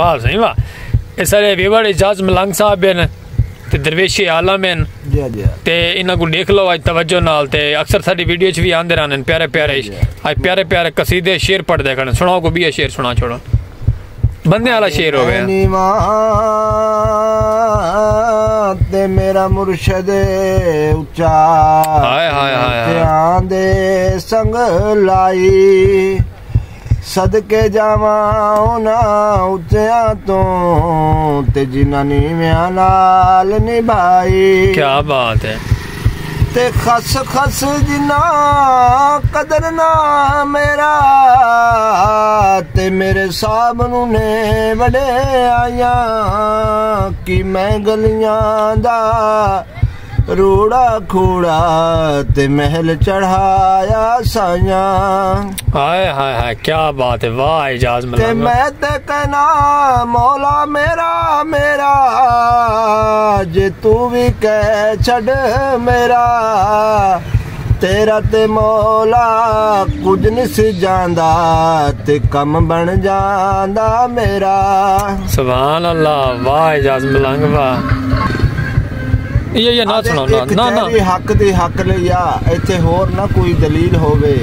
واہ سائیں واہ اس سارے ویوڑ اجاز ملنگ صاحب ہیں تے درویش عالم ہیں جی، جی۔ تے انہاں کو دیکھ لو اج توجہ نال تے اکثر ساری ویڈیو چ بھی آندے رہن پیارے پیارے جی، اج پیارے پیارے قصیدے شعر پڑھ دے کھڑے سناؤ کو بھی شعر سنا چھوڑو بندے والا شعر ہو گیا تے میرا مرشد اچا ہائے ہائے ہائے دے سنگ لائی صدقے جاواں انہاں اچیاں توں تے جنہاں نیویاں نال نبھائی کیا بات ہے تے خس خس جنہاں قدر نہ میرا تے میرے صاحب نو نے وڈے آیاں کی میں گلیاں دا روڑا کھوڑا تے محل چڑھایا سائیاں ہائے ہائے ہائے کیا بات ہے واہ اعجاز ملنگا تے میں تے کہنا مولا میرا میرا جے تو بھی کہہ چھڑ میرا تیرا تے مولا کچھ نہیں سی جاندا تے کم بن جاندا میرا سبحان اللہ واہ اعجاز ملنگا یہ یہ نہ سنا نا نا نا حق دی حق لے یا ایتھے ہور نہ کوئی دلیل ہووے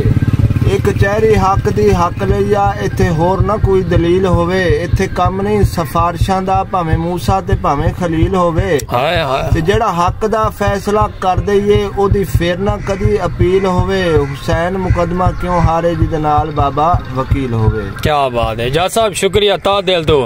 ایک چہری حق دی حق لے یا ایتھے ہور نہ کوئی دلیل ہووے ایتھے کم نہیں سفارشاں دا بھاویں موسی تے بھاویں خلیل ہووے ہائے ہائے تے جڑا حق دا فیصلہ کر دے یہ او دی پھر نہ کدی اپیل ہووے حسین مقدمہ کیوں ہارے جی دے نال بابا وکیل ہووے کیا بات ہے جا صاحب شکریہ تا دل تو